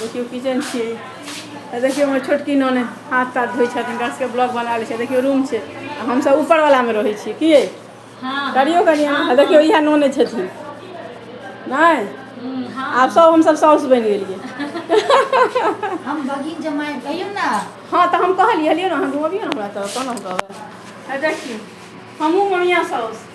देखियौ किचन छियै आ देखियौ हमर छोटकी नने हाथ ताथ धोइ छथिन हुनका सबके ब्लॉग बना लै छै देखियौ रूम छै आ हमसब ऊपर वाला मे रहै छियै की यइ? हाँ करियौ कनि अहाँ। आ देखियौ इएह नने छथिन नहि हम्म, हाँ आब सब हमसब साउस बनि गेलियै हम बगिन जमाए कहियौ ने हँ तऽ हम कहलियै हलियै ने अहाँ घुमबियौ ने हमरा तऽ कोना कहबै आ देखियौ हमहूँ ममिया साउस